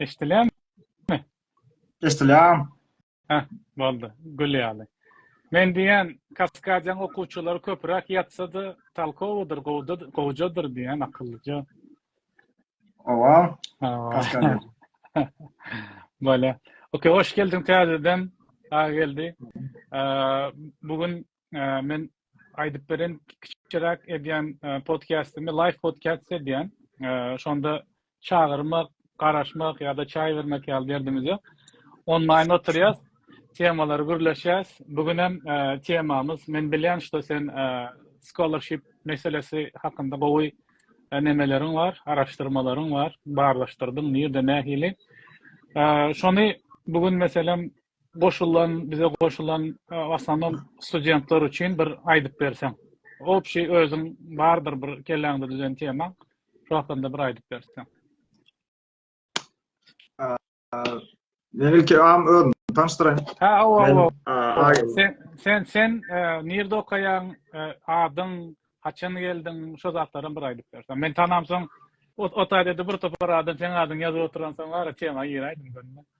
Eşdilýärmi? Eşdilýär. Heh, boldy. Gül ýaly. Men diýýän, Kaskadiýaň okuwçylary köpüräk ýatsa-da, talkowydyr, gowda, gowjadyr diýýän, akyllyja. Oba, Hawa. Kaskadiýa. Bolýar. Okey, hoş geldiň täzeden, Agageldi. Eee, bu gün men aýdyp beren kiçiräk edýän podkastimi live podcast edýän. Şonda çagyrmak, garaşmak ýa-da çaý bermek ýaly derdimiz ýok. Onlaýn oturýas, temalary gürleşýäs. Bu gün hem temamyz men bilýän, şo sen scholarship meselesi hakynda gowy nemeleriň bar, araşdyrmalaryň bar, barlaşdyrdyň, nirde, nähili. Şony bu gün meselem goşulan bize goşulan aslynda studentler üçin bir aýdyp berseň obşi özüň bardyr bir kelläňde düzen tema şu hakynda bir aýdyp berseň men ilki am öz tanşdyraýyn ha owa sen sen sen e, nirde okaýaň e, adyň haçan geldiň şu zatlary bir aýdyp berseň men tanamsoň o taýda bir topar adam sen adyň ýazyp oturan soň ara tema giräýdim görme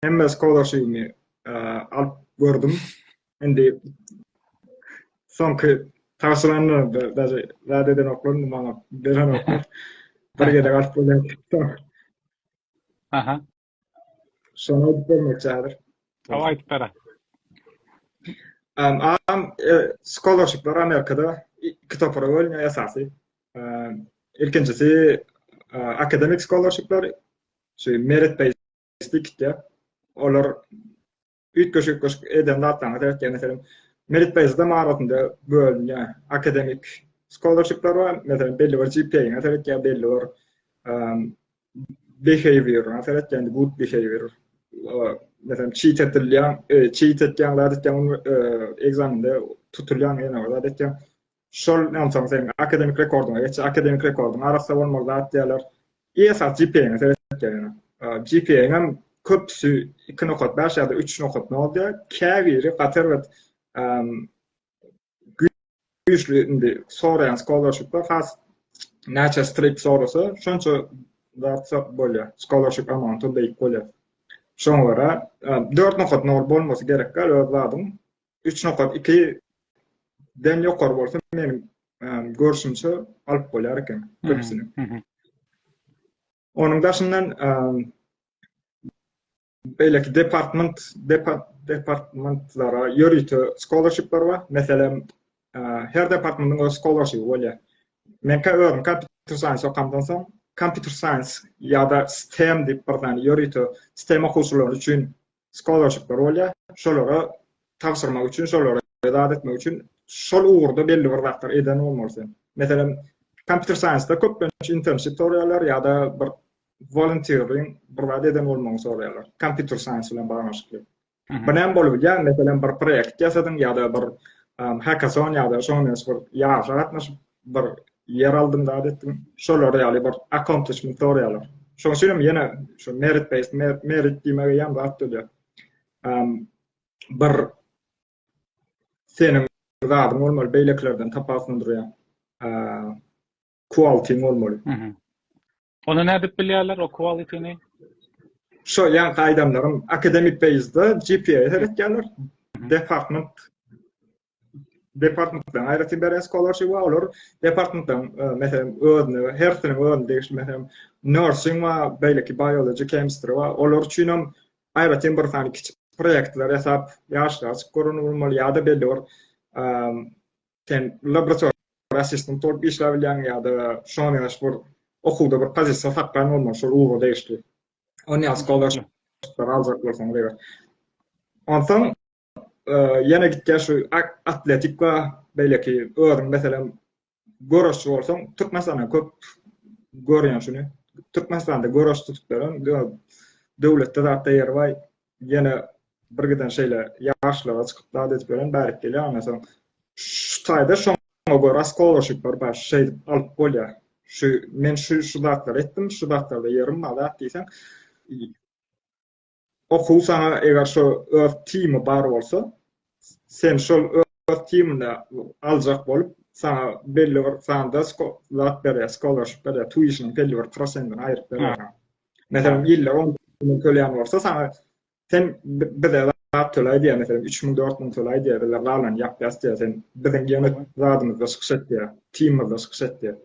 Hemme skolaşyny alyp gördüm. Indi soňky taşlanlar da daşy zat eden oklarym maňa beren oklar. Bir gede galyp bolan. Aha. Şonu aýdyp bermek çadyr. Awa aýdyp bera. Um, am e, skolaşyklar Amerikada iki topara bölünýär esasy. Um, ilkinjisi akademik skolaşyklar, şu merit Spikitde olar üýtgeşik-üýtgeşik eden zatlaryna seretýär. Meselem, Merit Beýzada mahabatynda bölünýär. Akademik scholarshipler bar, meselem, belli bir GPA-ňa seretýär, belli bir behavior-a seretýär, good behavior. Meselem, çit edilýär, çit edýär, zat edýär, ekzamende tutulýar, ýene bir zat edýär. Şol onsoň seň akademik rekordyňa geçýär. Akademik rekordyň arassa bolmaly zat diýýärler. Esas GPA-ňe seretýär ýöne. GPA-ň hem köpüsi 2 nokat bäş ýa-da 3 nokat nol diýýär. Käbiri gaty erbet güýçli indi soraýan scholarship-ler has näçe strip sorasa, şonça zat bolýar. Scholarship amount-y beýik bolýar. Şoňa görä dört nokat nol bolmasy gerek-dä öz zadyň. 3 nokat 2 den ýokary bolsa meniň görşümçe alyp bolýar eken köpüsini. Onuň daşyndan beýleki department departmentlara ýörite scholarshipler bar. Meselem, her departmentiň öz scholarshipi bolýar. Men ka özüm computer science okamdan soň computer science ýa-da STEM diýip bir zany ýörite STEM okuwçylary üçin skolarsipler bolýar. Şolara tabşyrmak üçin, şolara zat etmek üçin şol ugurda belli bir zatlar eden bolmaly sen. Meselem, kompýuter saýensda köplenç internship soraýarlar ýa-da bir volunteering bir zat eden bolmagyny soraýarlar. Kompýuter saýens bilen baglanyşykly. Bu näme bolup bilýär? Meselem, bir proýekt ýasadyň ýa-da bir hackathon ýa-da şoňa meňzeş bir ýaryşa gatnaşyp, bir ýer aldym zat etdim şolar ýaly bir accomplishment soraýarlar şoň üçin hem ýene şu merit based merit diýmegi ýam zat dölýär bir seniň zadyň bolmaly beýlekilerden tapawutlandyrýan quality bolmaly Ony nädip bilýärler, o quality-ni? Şo ýaňky aýdanlarym akademik page-de GPA-ýa seretýärler. Department departmentden aýratyn beren scholarship we olar departmentdan e, meselem özüne hersiniň özüne degişli meselem nursing we beýleki biology chemistry we olar üçin hem aýratyn bir sany kiçi proýektler ýasap ýaşlar çykyp görün bolmaly ýa-da belli bir sen laborator assistant bolup işläp bilýäň ýa-da şoňa meňzeş bir okuwda bir pozisiýa tapýan bolmaly şol ugura degişli. Ony ýa skolarşyplar aljak bolsaňyz eger. Onsoň e, ýene gitýär şu atletik we beýleki özüň meselem göreşçi bolsaň Türkmenistanda köp görýän şuny. Türkmenistanda göreş tutup beren döwletde zatda ýeri bar. ýene bir giden şeýle ýaşlara çykyp zat edip ýören bärik gelýär ondan soň şu taýda şoňa görä skolaşyp bir baş şeýdip alyp bolýar şu men şu şu zatlary etdim şu zatlarda ýerim bar zat diýseň okuw saňa eger şu öz timi bar bolsa sen şol öz teamyny aljak bolup, saňa belli bir sanda zat berýär, scholarship berýär, tuition-yň belli bir prosentini aýryp berýär. Meselem, ýylda on müň tölän bolsa, saňa sen bize zat töläý diýýär, meselem, üç müň, dört müň töläý diýýär, bizler galany ýapýas diýýär, sen biziň ýene zadymyzda çykyş et diýýär, teamymyzda çykyş et diýýär.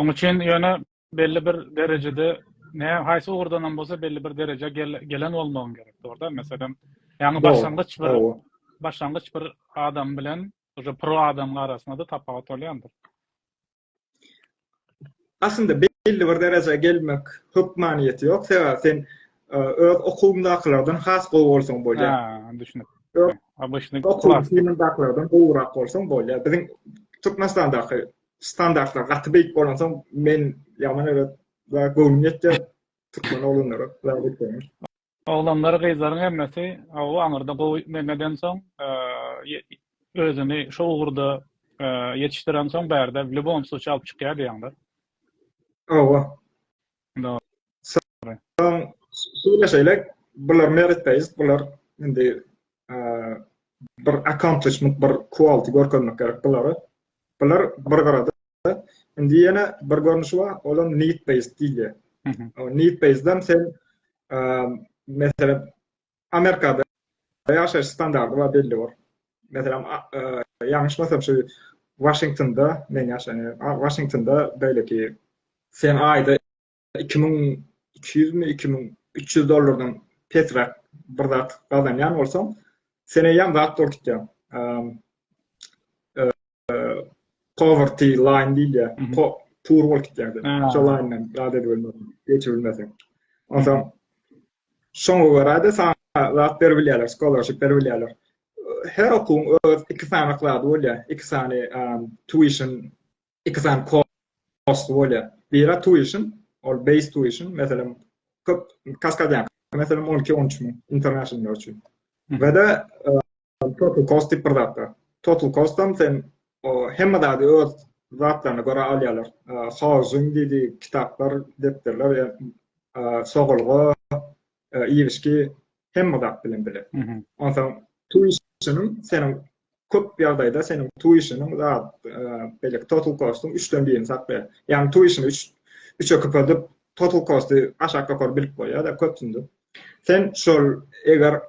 Oň üçin ýöne belli bir derejede ne haýsy ugurdan hem bolsa belli bir dereje gelen bolmagyň gerek dogruda meselem ýaňy başlangyç bir başlangyç bir adam bilen uje pro adam arasynda da tapawut bolýandyr aslynda belli bir derejä gelmek hökmanyýeti ýok sebäbi sen e, öz okuwuňdakylardan has gowy bolsaň bolýar ha düşünip obşny okuwuňdakylardan gowrak bolsaň bolýar biziň türkmenistandaky standartlar gaty beýik bolansoň men ýaman öýle göwnüm ýetýär türkmen oglanlara oglanlar gyzlaryň hemmesi gowy aňyrda gowy men edensoň özüni şo ugurda ýetişdirensoň bärde w lýubom sluçýe alyp çykýar diýýäňler owa Soň söýleşeýlik. Bular merit based, bular indi bir accomplishment, bir quality görkezmek gerek bulara. Bular bir gyrada. Indi ýene bir görnüşi bar, ol hem need based diýilýär. Need based-den sen meselem Amerikada ýaşaýyş standardy bar belli bor. Meselem, ýalňyşmasam şu Washingtonda, men ýaşaýan ýerim, Washingtonda beýleki sen aýda 2200 mi, 2300 dollardan pesräk bir zat gazanýan bolsaň, sen eýýäm zat dolup gitýäň. poverty line diýilýär. Pur bolup gitýärdi. Şo line-den zat edip bilmezdi, geçip bilmezdi. Onsoň şoňa görä-de saňa zat berip bilýärler, scholarship berip bilýärler. Her okuwyň öz iki sany zady bolýar. Iki sany tuition, iki sany kurs bolýar. Biri tuition, ol base tuition, meselem, köp kaskadýan, meselem, 12-13 müň international üçin. We-de Total cost diýip bir zat bar. Total cost-am sen hemme zady öz zatlaryna görä alýarlar. Housing diýdi, kitaplar, depderler, sogalga, iýmişki hemme zat bilen bile. Onsoň tuition-yň seniň köp ýagdaýda seniň tuition-yň zat beýleki total cost-yň üçden birini saplaýar. Ýagny tuition-y üç üçe köpeldip total cost-y aşak ýokary bilip goýýar-da köpsünde. Sen şol eger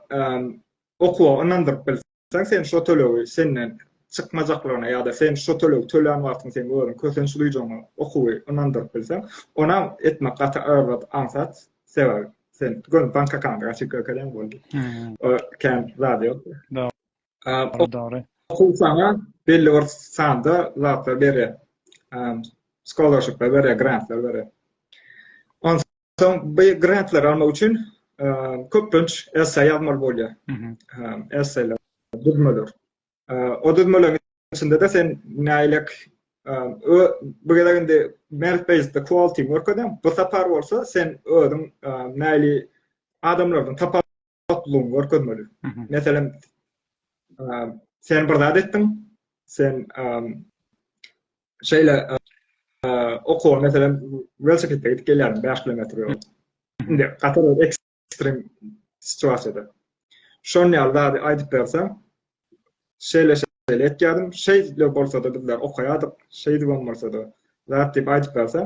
okuwa ynandyryp bilseň, sen şo tölegi senden çykmajaklygyna ýa-da sen şo tölegi tölän wagtyň seň özüň kösenç duýjagyňa okuwy ynandyryp bilseň, onam etmek gaty agyr zat, aňsat. Sebäbi sen göni bank akkauntyňy açyp görkezeň boldy. O kän zady ýok. Dogry. Dogry. Okuw saňa belli bir sanda zatlar berýär. Scholarshipler berýär, grantlar berýär. Soň bu grantlary almak üçin köplenç esse ýazmaly bolýar. Esseler, düzmeler. O düzmeleriň içinde-de sen näýlek bu gezek indi merit based quality görkezýän. Bu sapar bolsa sen özüň näýli adamlardan tapar toplugyňy görkezmeli. Meselem, sen bir zat etdiň, sen şeýle okuwa, meselem, welosipedde gidip gelýärdiň 5 kilometr ýol. Indi gaty bir ekstrem situasiýada. Şonuň ýaly zady aýdyp berseň, şeýle şeýle etýärdim, şeýle bolsa-da bizler okaýardyk, şeýdibem bolsa-da, zat diýip aýdyp berseň,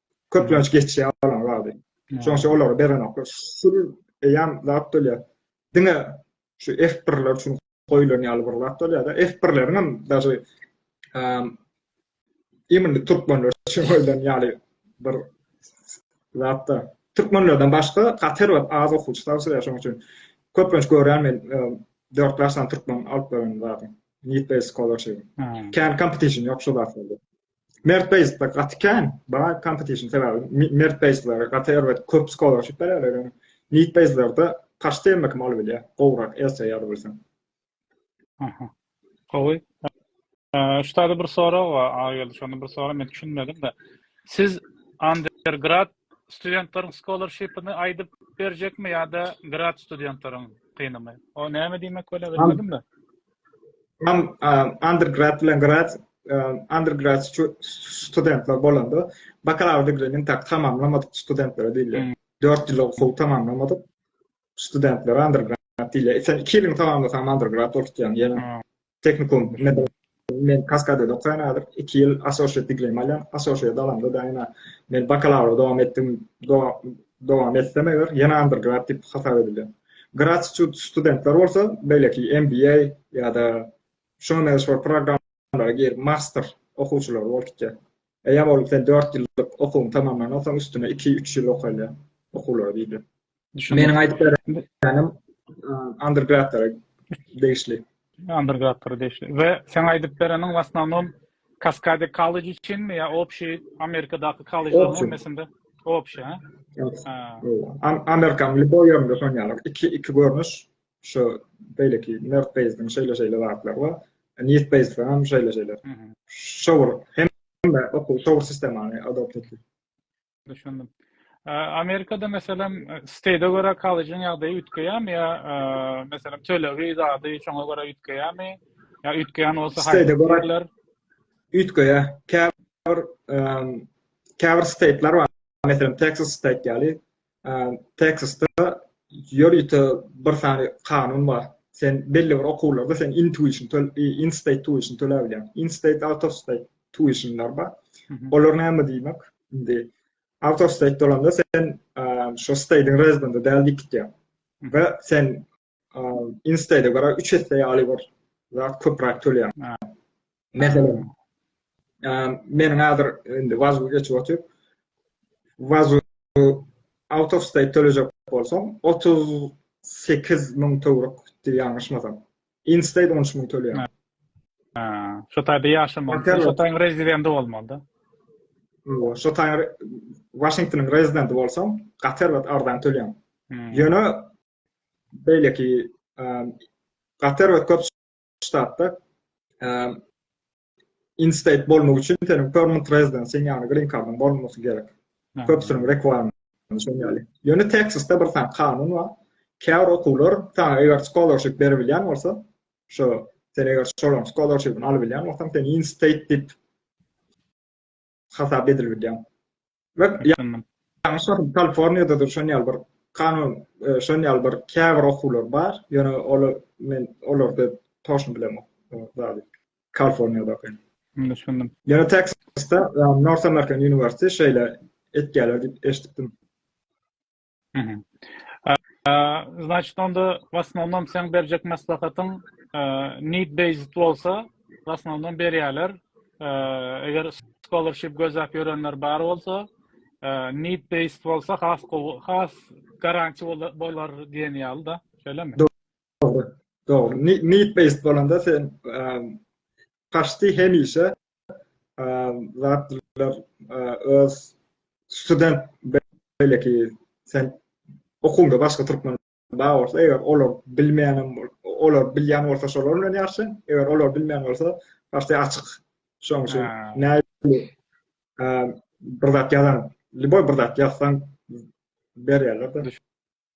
köplenç geçýär olaň zady. Şoň üçin olary berenoklar. Şul eýýäm zat bolýar. Diňe şu F1-ler üçin goýlan ýaly bir zat bolýar-da. F1-leriň hem daşy imindi türkmenler üçin goýlan ýaly bir zat-da. Türkmenlerden başga Kater we az okuwçy tabşyrýar şoň üçin. Köplenç görýän men 4 ýaşdan türkmen alyp beren zadyny. Need-based Scholarship. Kän kompetisiýa ýok şu zatlarda. Mert Beýsler gaty kän, baý kompetision sebäbi Mert Beýsler gaty erbet köp skolarşip berýärler ýöne Nit Beýslerde paşty hemme kim alyp bilýär, gowrak esse ýa-da bolsam. Aha. Gowy. Şutada bir sorag bar, Agageldi şonda bir sorag men düşünmedim-de. Siz undergrad studentlaryň skolarşipini aýdyp berjekmi ýa-da grad studentlaryň kynymy? O näme diýmek bolýar bilmedim-de. Mam undergrad bilen grad undergrad studentler bolanda bakalavr digrini tak tamamlamadyk studentlere diýilýär. Hmm. Dört ýyl okuw tamamlamadyk studentlere undergrad diýilýär. Sen iki ýylyň tamamlasaň undergrad bolup diýýär. Ýene hmm. teknikum men kaskadede okaýan häzir iki ýyl associate digrimi alýan. Associate alamda da ýene men bakalavr dowam etdim. Dowam etsem eger ýene undergrad diýip hasap edilýär. Gratitude studentler bolsa beýleki MBA ýa-da şuňa mezeşwar programlara girip master okuwçylary bolup gitýär. Eýýäm ol sen dört ýyllyk okuwyňy tamamlandan soň üstüne iki, üç ýyl okaýlýar okuwlary diýilýär. Düşündim. Meniň aýdyp berenim undergradlara degişli. Undergrad-da degişli. We seň aýdyp bereniň w asnownom Kaskade College üçinmi ýa obşiý Amerikadaky kollejleriň Obşi. hemmesinde? Obşi, ha? Ha. Am- Amerikanyň lýuboý ýerinde şony ýaly. Iki, iki görnüş. Şu beýleki Nerd Base-iň şeýle-şeýle zatlary bar. Nith Base-de hem şeýle-şeýle. Mhm. Şowur, hemme okuw şowur sistemany adopt etdi. Düşündim. Amerikada meselem state göre kollejin ýagdaýy üýtgeýärmi ýa meselem tölegi zady şoňa göre üýtgeýärmi? Ýa üýtgeýän bolsa haýsy görerler? Üýtgeýär. Käbir käbir state'ler bar. Meselem Texas state ýaly. Texasda ýörite bir sany kanun bar. Sen belli bir okuwlarda sen in tuition töl in state tuition töläbilýäň. In state out of state tuitionlar bar. Olar näme diýmek? Indi out of state dolanda sen şu state'in rezidendi däl diýip gitýär. Ve sen in state'e göre 3 esse ýaly bir zat köpräk töleýär. Meselem, meniň häzir indi vazu geçip oturyp, vazu out of state tölejek bolsam, 38 müň töwrük diýýär ýalňyşmasam. In state 13 müň töleýär. Ha, şu taýda ýaşamak, Hotel şu taýyň rezidenti bolmalyda. Ýo, şu taýyň Washingtonyň rezidenti bolsaň, gater we ardan töleýär. Hmm. Ýöne beýleki gater we köp ştatda in-state bolmak üçin seniň permanent residencyň, ýagny green kardyň bolmasy gerek. Köpüsiniň requirement şol ýaly. Ýöne Texasda bir sany kanun bar. Käbir okuwlar saňa eger scholarship berip bilýän bolsa, şo sen eger şolaryň scholarship-ini alyp bilýän bolsaň, seni in-state diýip hasap edilip bilýär. We ýalňyş bolsam Kaliforniýada da şon ýaly bir kanun, e, şon ýaly bir käbir okuwlar bar. Ýöne olar men olarda toşun bilemok. Zady. Kaliforniýada okaýan. Düşündim. Ýöne Texasda e, North American University şeýle etýärler diýip eşitdim. Значit onda wasnownom seň berjek maslahatyň need based bolsa wasnownom berýärler. Eger scholarship gözläp ýörenler bar bolsa, need based bolsa has gowy, has garanti bolar diýen ýaly da. Şeýlemi? Dogry. Dogry. Need based bolanda sen paşti hemişe zatlar öz student belki sen okuňda başga türkmen bar bolsa eger olar bilmeýän olar bilýän bolsa şolar bilen ýaşa eger olar bilmeýän bolsa başda açyk şoň üçin näme bir zat ýazan liboý bir zat ýazsaň berýärler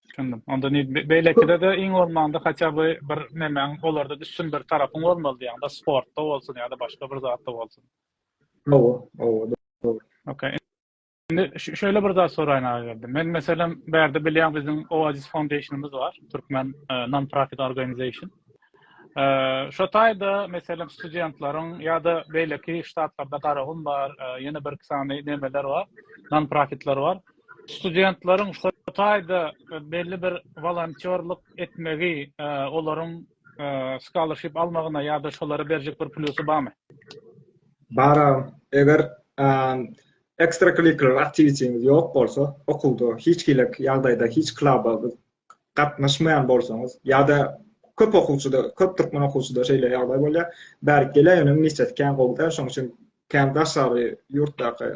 Düşündim. Onda ne beýlekide de iň bolmanda haçan bu bir nemäň olarda düşün bir tarapyň bolmaly diýen. Da sportda bolsun ýa-da başga bir zatda bolsun. Owo, owo, dogry. Okey. Indi şöyle bir zat soraýyn agyrdy. Men meselem bärde bilýän biziň Oasis Foundationymyz bar, türkmen e, non-profit organization. E, şo taýda meselem studentleriň ýa-da beýleki ştatlarda Garagum bar, e, ýene bir iki sany nemeler bar, non-profitler bar. studentleriň şu taýda belli bir wolontýorlyk etmegi olaryň scholarship almagyna ýa-da şolara berjek bir plusy barmy? Bar. Eger ekstrakurikular aktiwitetiňiz ýok bolsa, okuwda hiç hili ýagdaýda hiç kluba gatnaşmaýan bolsaňyz ýa-da köp okuwçyda, köp türkmen okuwçyda şeýle ýagdaý bolýar. Bärik geleýine ministresi kän gowy däl, şonuň üçin kän daşary ýurtdaky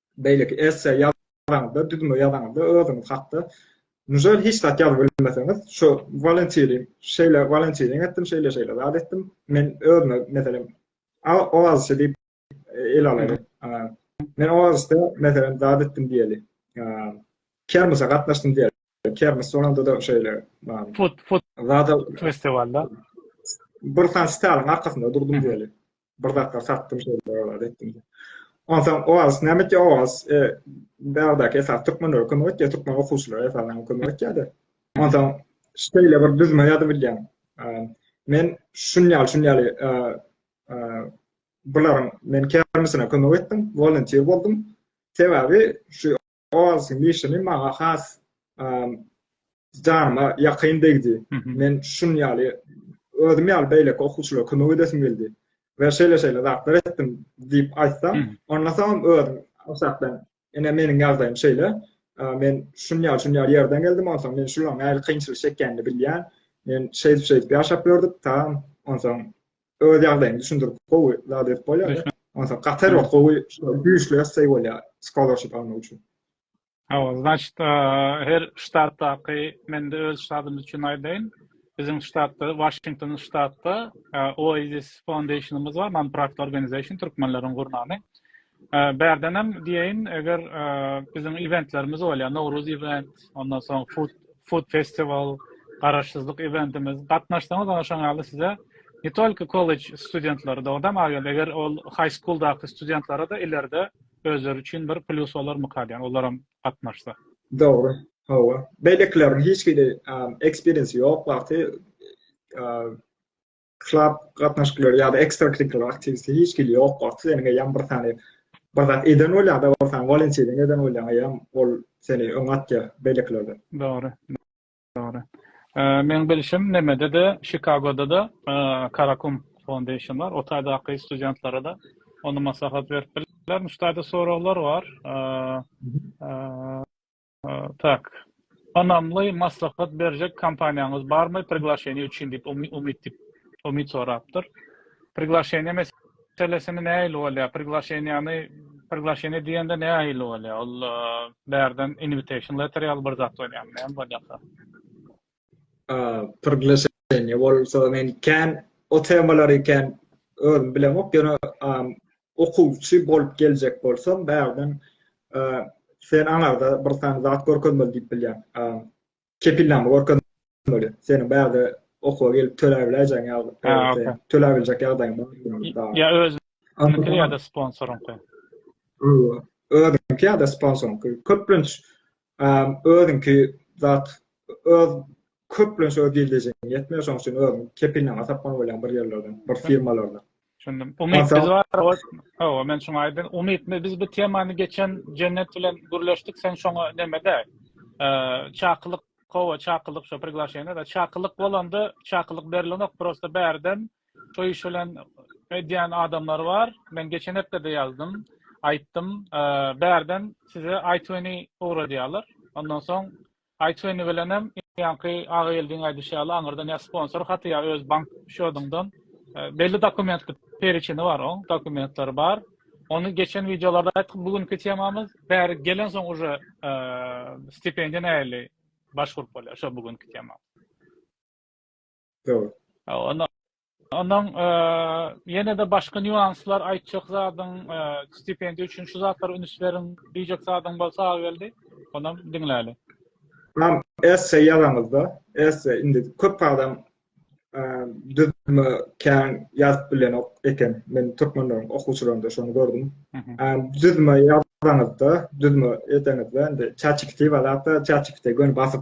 beýleki esse ýazaňyzda, düzme ýazaňyzda özüňiz hakda nžel hiç zat ýazyp bilmeseňiz, şu walantirim, şeýle walantiring etdim, şeýle-şeýle zat etdim, men özüme, meselem, oazisçi diýip ele alaýyň. Men oazisde, meselem, zat etdim diýeli. Kermese gatnaşdym diýeli. Kermes sonunda-da şeýle, zada festiwalda bir sany sitalaryň arkasynda durdum diýeli. bir zatlar satdym şeýle zat etdim diýip. Onsoň oaz näme etdi oaz e, bärdäki esas türkmenlere kömek etdi türkmen okuwçylara esasan kömek etdi. Onsoň şeýle bir düzme ýazyp bilýän. Men şunýal şunýal e, e, bularyň men kermisine kömek etdim, volunteer boldum. Sebäbi şu Oz mişini maňa has janyma ýakyn degdi. Men şun ýaly özüm ýaly beýleki okuwçylara kömek edesim geldi. We şeýle şeýle zatlar etdim diýip aýtsam, ondan soň özüm aşakdan ene meniň ýagdaýym şeýle. Men şun ýaly şun ýaly ýerden geldim, ondan soň men şularyň nähili kynçylyk çekýänini bilýän. Men şeýdip şeýdip ýaşap ýördük, tamam. Ondan soň öz ýagdaýyňy düşündirip gowy zat edip bolýar. Onsa gaty wagt gowy güýçli essay bolýar scholarship almak üçin. Hawa, значит, her ştatdaky mende öz ştatym üçin aýdaýyn. Biziň ştatda, Washington ştatda Oasis Foundation-ymyz bar, non-profit organization, türkmenleriň gurnany. Bärdenem diýeýin, eger biziň eventlerimiz bolýar, Nowruz event, ondan soň food food festival, garaşsyzlyk eventimiz, gatnaşsaňyz oňa şoň ýaly size ne tolki kollej studentleri dogdam aýal eger ol high school daky studentlara da ileride özleri üçin bir plus bolar mykar diýen olar hem gatnaşsa dogry hawa beýlekileriň hiç hili experience ýok wagty klub gatnaşyklary ýa-da ekstrakurikular aktiwiteti hiç hili ýok bolsa, seniň eýýäm bir sany bir zat eden bolýar, bir sany walençeden eden bolýar, eýýäm ol seni öňe atýar beýlekilerden. Dogry. Dogry. Meň bilşim nemede-de, Çikagoda-da Karakum Foundation bar. O taýdaky studentlara-da onda maslahat berip bilermiş. Taýda soraglar bar. Tak. Ynamly maslahat berjek kompaniýaňyz barmy priglaşeniýa üçin diýip Umyt Umyt sorapdyr. Priglaşeniýa meselesini nähili bolýar? Priglaşeniýany priglaşeniýa diýende nähili bolýar? Ol bärden invitation letter ýaly bir zat bolýarmy? Näme bolýar? Priglaşeniýe bolsa men kän o temalary kän özüm bilemok, ýöne okuwçy bolup geljek bolsam, bärden sen aňarda bir sany zat görkezmeli diýip bilýän. Kepilnama görkezmeli. Seniň bärde okuwa gelip töläp biläýjäň ýaly. Töläp biljek ýagdaýyň bar. Ýa özüňki ýa-da sponsoryňky. Özüňki ýa-da sponsoryňky. Köplenç Özüňki zat öz köplenç öz gildejeňe ýetmeýär şoň üçin özüň kepilnama tapmaly bolýaň bir ýerlerden bir firmalardan. Düşündim. Umyt biz bar Hawa men şuňa aýdym. Umyt biz bu temany geçen Jennet bilen gürleşdik sen şoňa nemede çakylyk Hawa çakylyk şo priglaşeniýada çakylyk bolanda çakylyk berilenok prosta bärden Toý iş bilen edýän adamlar bar. Men geçen hepdede ýazdym, aýtdym. Bärden size iTuny ugradýarlar. Ondan soň iTuny bilen hem ýaňky Agageldiň aýdyşy ýaly aňyrdan ýa sponsor haty ýa öz bank şodyňdan belli dokumentli periçini bar oň, dokumentleri bar. Ony geçen wideolarda aýtdyk, bu günki temamyz bäri gelen soň uje e, stipendiýa nähili başgurup bolýar, şo bu günki tema. Dogry. Onda ondan ýene-de başga nýuanslar aýtjak zadyň stipendiýa üçin şu zatlara üns beriň diýjek zadyň bolsa Agageldi, onam diňläli. Mam, esse ýazaňyzda, esse indi köp adam düzme kän ýazyp bilenok eken. Men türkmenleriň okuwçylarynda şony gördüm. Düzme ýazaňyzda, düzme edeňizde, indi çaçikti bar, hatda çaçikti göni basyp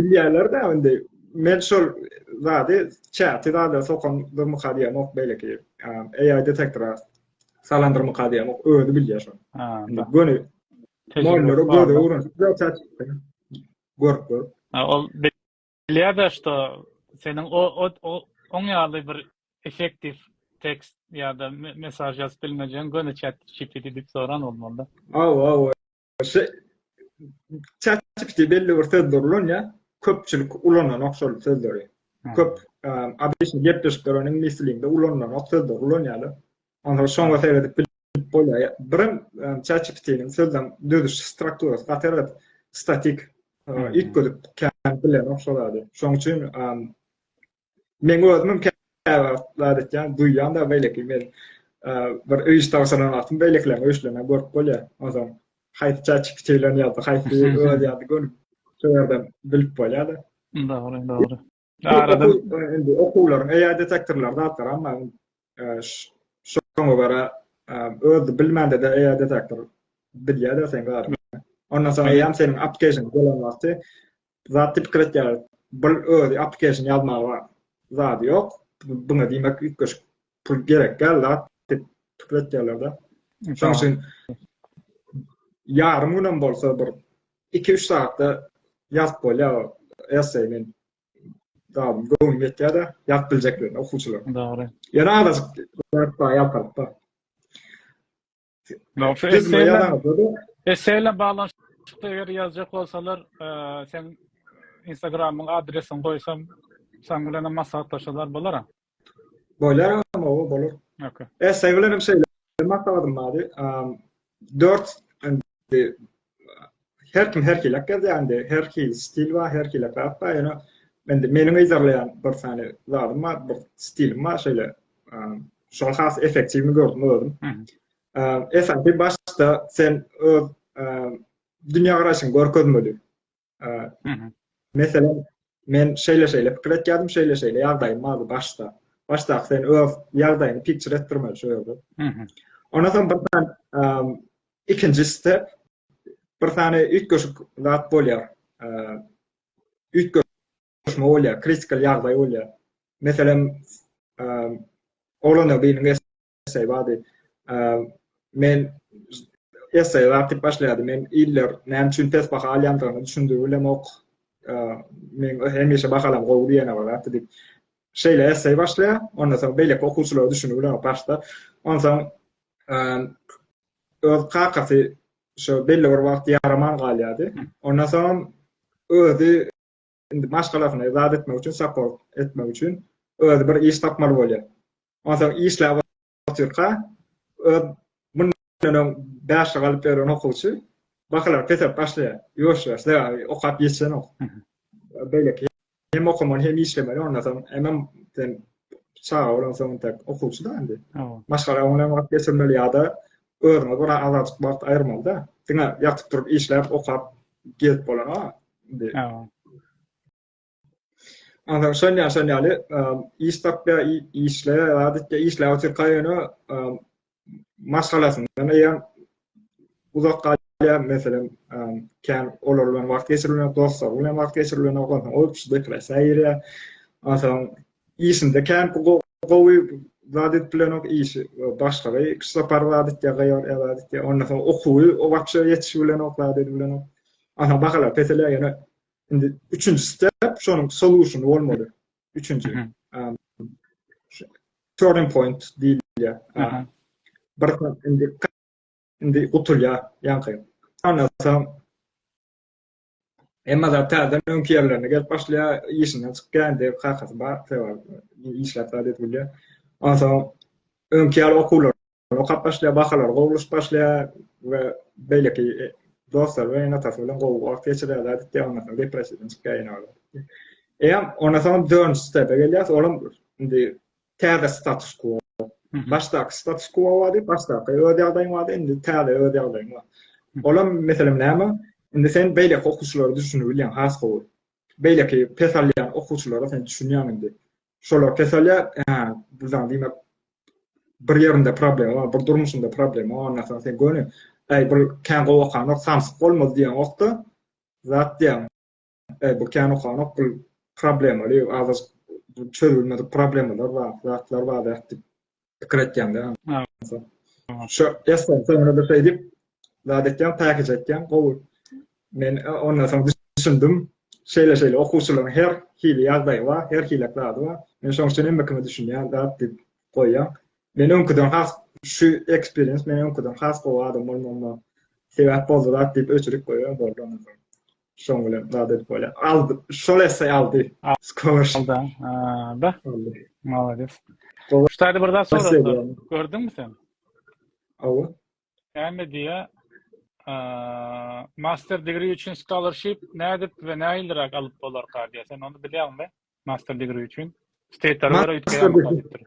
Bilýärler de indi. Men şol zady çäti zada sokan durmyka diýemok beýleki AI detektora salan durmyka diýemok. Özi bilýär şony. Ha. Göni mollary göze urunýar. Görüp görüp. Ha, ol bilýär de şo seniň o o oň ýaly bir effektiw tekst ýa-da mesaj ýazyp bilmejegini göni çat GPT diýip soran bolmaly da. Aw, aw. Şu ChatGPT belli bir sözler ulanýar. Köpçülik ulananok şol sözleri. Köp abişli gepleşikler onuň ingliz dilinde ulananok sözler ulanýarlar. Onda şoňa seredip bilip bolýar. Birim ChatGPT-niň sözlem düzüş strukturasy gaty statik. Ilk görüp kän bilenok şol ady. Şoň üçin Men özüm käwagt etýän, duýýan-da beýleki men bir öý iştagsyna wagtym beýlekileriň öýşlerini görüp bolýar. Onsoň haýsy çäçi kiçilen ýa-da haýsy öz ýa-da gönüm şu ýerden bilip bolýar-da. Dogry, dogry. Arada okuwlaryň eýer detektorlar zatlaram bar. Şoňa görä özi bilmände-de AI detektor bilýär-de seň zadyňy. Ondan soň AI-ýam seniň application gelen wagty zatdy pikir etýär. Bu özi application ýazmaga zady ýok. Buňa diýmek üýtgeşik pul gerek däl zat diýip pikir etýärler-de. Şonuň üçin ýarym günem bolsa bir iki-üç sagatda ýazyp bolýar esse men Dawam göwün ýetýär-de, ýat biljeklerine okuwçylar. Dogry. Ýöne azajyk ýat bar ýalparyp-da. Esseýle baglanyşykda eger ýazjak bolsalar, seň Instagramyň adresiňi goýsam, sen bilen maslahatlaşsalar bolar-a? Boýlar adam oba bolar. Okey. Essay bilen hem şeýle maksadym bardy. Dört indi her kim her hilek gezýändi. Her hil stil bar, her hilek zat bar. Ýöne indi meniň yzarlaýan bir sany zadym bar, bir stilim bar şeýle. Şol has effektiwini gördüm özüm. Esasy başda sen öz dünýä garaýşyňy görkezmeli. Meselem, men şeýle-şeýle pikir etýärdim, şeýle-şeýle ýagdaýym bardy başda. Başda sen öz ýagdaýyňy pikçir etdirme şu ýerde. Ondan soň bir sany ikinji step, bir sany üýtgeşik zat bolýar. Üýtgeşme bolýar, kritikal ýagdaý bolýar. Meselem, oglana biriniň essay bardy. Men essay artyp başlaýardy. Men iller näme üçin pes baha alýandygyny düşündirip bilemok. Men hemişe bahalam gowy diýene bir zat diýip. Şeýle essay başlaýar. Ondan soň beýleki okuwçylar düşünip bilemok başda. Ondan soň öz kakasy şu belli bir wagt ýaraman galýardy. Ondan soň özi indi maşgalasyny yzat etmek üçin, saport etmek üçin özi bir iş tapmaly bolýar. Onsoň işläp otyrka öz mundan öň bäşlik alyp ýören okuwçy bahalar peselip başlaýar. Ýuwaş-ýuwaş sebäbi okap ýetişenok. Beýleki hem okamaly hem işlemeli ondan soň hemem sen çaga bolansoň tek okuwçy-da indi. Maşgala bilen wagt geçirmeli ýa-da Özüňe görä azajyk wagt aýyrmaly-da. Diňe ýatyp turup işläp, okap gezip bolanok. Indi. Ondan şol ýa şol ýaly iş tapýa, işle, adatda işläp otur kaýyna maşgalasyndan eýe uzak galýa, meselem, kän olar bilen wagt geçirilýär, dostlar bilen wagt geçirilýär, ondan ol kişi depressiýa girýär. Ondan Işinde kän gowy zat edip bilenok, işi başgaby pissapar zat etýär, gaýor ýa zat etýär. Ondan soň okuwy wapşe ýetişip bilenok, zat edip bilenok. Aha bahalar peselýär ýöne indi üçünji step şonuň solution bolmaly. Üçünji. Turning point diýilýär. Bir indi indi gutulýar ýaňky. Ondan soň Emma zat täzeden öňki ýerlerine gelip başlaýar, işinden çykyp geldi, kakasy bar, sebäbi işläp zat edip bilýär. Onsoň öňki ýaly okuwlar okap başlaýar, bahalary gowulaşyp başlaýar we beýleki dostlary bilen, ene-atasy bilen gowy wagt geçirýär zat edýär, ondan soň depressiýadan çykýar ýene. Eýýäm ondan soň dördünji stepä gelýär, olam indi Täze status quo. Başdaky status quo bardy, başdaky öz ýagdaýyň bardy, indi täze öz ýagdaýyň bar. Olam meselem näme? Indi sen beýleki okuwçylary düşünip bilýäň has gowy. Beýleki pes alýan okuwçylara sen düşünýäň indi. Şolar pes alýar, hä, bu zat diýmek bir ýerinde problema bar, bir durmuşynda problema bar, ondan soň sen göni, äý, bir kän gowy okanok, samsyk bolmaz diýeňokda, zat diýýäň. Eý bu kän okanok bu problemaly azajyk çözülmedik problemalar bar, zatlar bar diýip pikir etýäňde. Şu esasy soňra bir şey diýip zat etýän, päkiz etýän, gowy. Men e, ondan soň düşündim. Şeýle şeýle okuwçylaryň her hili ýagdaýy bar, her hili zady bar. Men şoň üçin hemme kime düşünýän zat diýip goýýan. Men öňküden has şu eksperiens men öňküden has gowy adam bolmagyma sebäp boldy zat diýip öçürip goýýan boldy. Şoň bilen zat edip bolýar. Aldy. Şol esse aldy. Skor. Alda. Da. Malades. Şu taýda bir zat sorapdyr. Gördüňmi sen? Awa. Näme diýä? Master degree üçin scholarship nädip we nähiliräk alyp bolarka diýä. Sen ony bilýäňmi? Master degree üçin. State'lere görä üýtgeýär mukadepdir.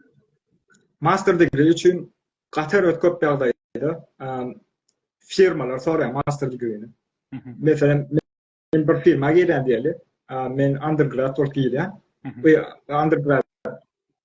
Master degree üçin Katar öz köp ýagdaýda firmalar soraýar master degree-ni. Meselem, men bir firma girýän diýeli, men undergrad bolup girýän. Bu undergrad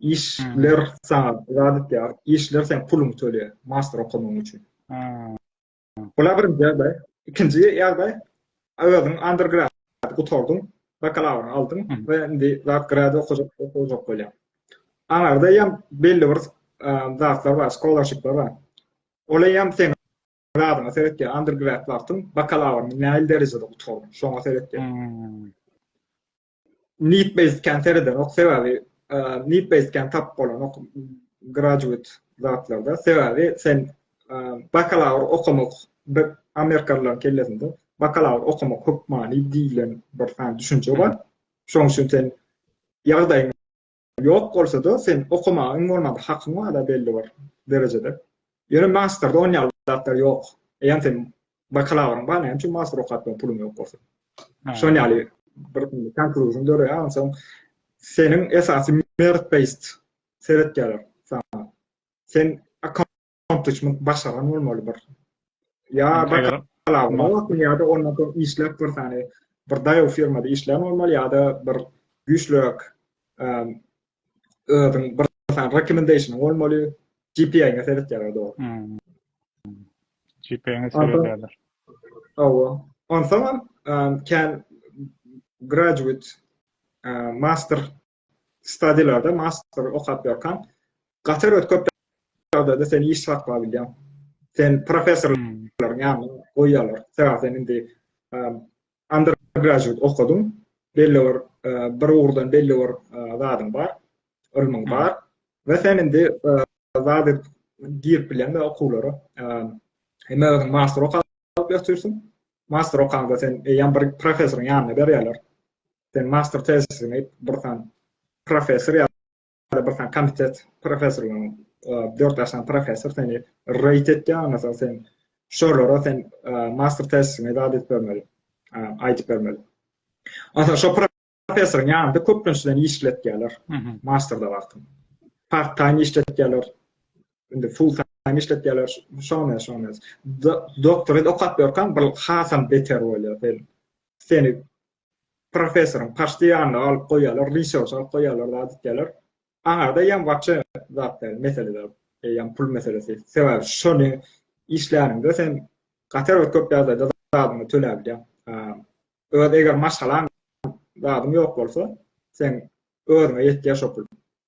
işler saňa zat etýär, işler sen puluňy töleýär, master okamagyň üçin. Bula birinji ýagdaý. Ikinji ýagdaý, özüň undergrad gutardyň, bakalawryňy aldyň we indi zat grad okajak, okajak bolýaň. Aňarda hem belli bir zatlar bar, scholarshipler bar. Ola hem sen zadyňa seretýär, undergrad wagtyň bakalawryňy nähili derejede gutardyň, şoňa seretýär. Need based can seredenok sebäbi need based can tap bolanok graduate zatlarda sebäbi sen bakalawr okamak bir amerikalylaryň kellesinde bakalawr okamak hökmany diýilen bir sany düşünje bar. Şoň üçin sen ýagdaýyň Ýok bolsada sen okamaga iň bolmanda hakyň bar-a belli bir derejede. Ýöne masterde on ýaly zatlar ýok. Eýýäm seniň bakalawryň bar näme üçin master okap bilen puluň ýok bolsa. Şol ýaly bir konkluzýa döreýär onsoň seniň esasy merit based seretýärler saňa. Sen Ýontuşmak başaran bolmaly bir. Ýa bakalawda bolmaly ýa-da ondan soň işläp bir sany bir daýaw firmada işlän bolmaly ýa-da bir güýçlüräk özüň bir sany rekomendasiýony bolmaly. GPA-ňe seretýärler dogry. GPA-ňe seretýärler. Hawa. Onsoň hem kän graduate master Stadilerde master okap ýörkaň, gaty bir köp ýagdaýda seni iş saklap bilýär. Sen professorlaryň ýanyna goýýarlar. Sebäbi sen indi undergraduate okadyň, belli bir bir ugurdan belli bir zadyň bar, ylmyň bar we sen indi zat edip girip bilýän we okuwlara hem özüň master okap ýörtýärsiň. Master okaňda sen eýýäm bir professoryň ýanyna berýärler. sen master tezisiňi bir sany professor ýa da bir sany komitet professorlaryň dört ýaşan professor seni reýt etýär ondan soň sen şolara sen master tezisiňi zat edip bermeli aýdyp bermeli ondan şo professoryň ýanynda köplençeden işletýärler masterda wagtym part time işletýärler indi full time işletýärler şony şony doktory okap ýörkäm bir hasam beter bolýar seni professoryň paşty ýanyna alyp goýýarlar research alyp goýýarlar zat diýýärler aňarda ýaň wapşe zat däl mesele däl ýaň pul meselesi sebäbi şony işläniňde sen gaty erbet köp ýagdaýda zadyňy töläp bilýäň öz eger maşgalaň zadyň ýok bolsa sen özüňe ýetýär şo pul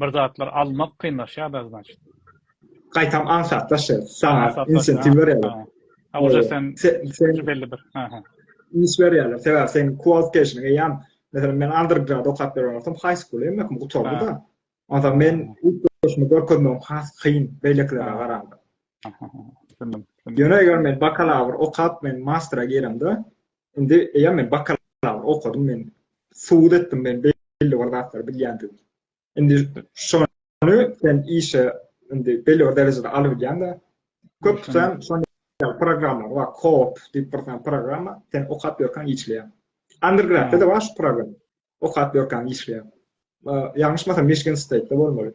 bir zatlar almak kynlaşýarda znaçit. Gaýtam aňsatlaşýar. Saňa insentiv berýärler. Ha oje sen sen belli bir. Ha ha. Iş berýärler. Sebäbi sen qualification eýýäm. Meselem men undergrad okap berýän bolsam, high school eýýäm mekim gutardy da. Onda men ilk başymy görkezmegim has kyn beýlekilere garanda. Aha. Ýöne eger men bakalawr okap men mastera giremde, Indi eýýäm men bakalawyr okadym, men subut etdim, men belli bir zatlary bilýändigimi. Indi şony sen işe indi belli bir derejede alyp bilýäň-de. Köpüsem şony programma bar, kop diýip bir sany programma, sen okap ýörkäň işleýär. Undergrad-da bar şu programma. Okap ýörkäň işleýär. Ýalňyşmasam Michigan State-de bolmaly.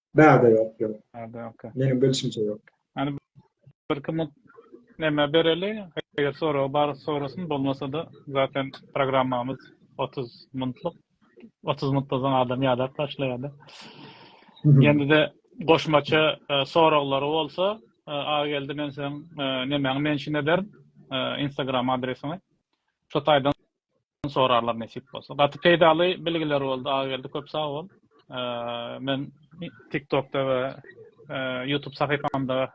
Bärde ýok, ýok. Bärde ýok. Meniň bilşimçe ýok. Ýani bir kim näme bereli, eger sorag bar sorasyn, bolmasa-da zaten programmamyz 30 minutlyk. 30 minutdan soň adam ýadap başlaýar-da. Ýene-de goşmaça e, soraglary bolsa, e, aga geldi men sen e, nemäňi mention ederin, Instagram adresiňi. Şu taýdan sorarlar nesip bolsa. Gaty peýdaly bilgiler boldy Agageldi köp sag bol. Men TikTokda we YouTube sahypamda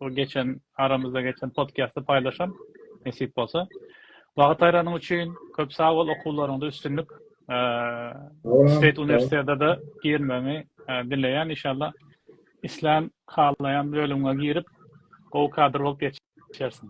bu geçen aramyzda geçen podcast'ı paýlaşan nesip bolsa. Wagt aýranyň üçin köp sag bol okuwlaryňda üstünlik. State Üniversitede de girmegi dileýän inşallah. İslän halaýan bölümiňe girip gowy kadr bolup geçersiň.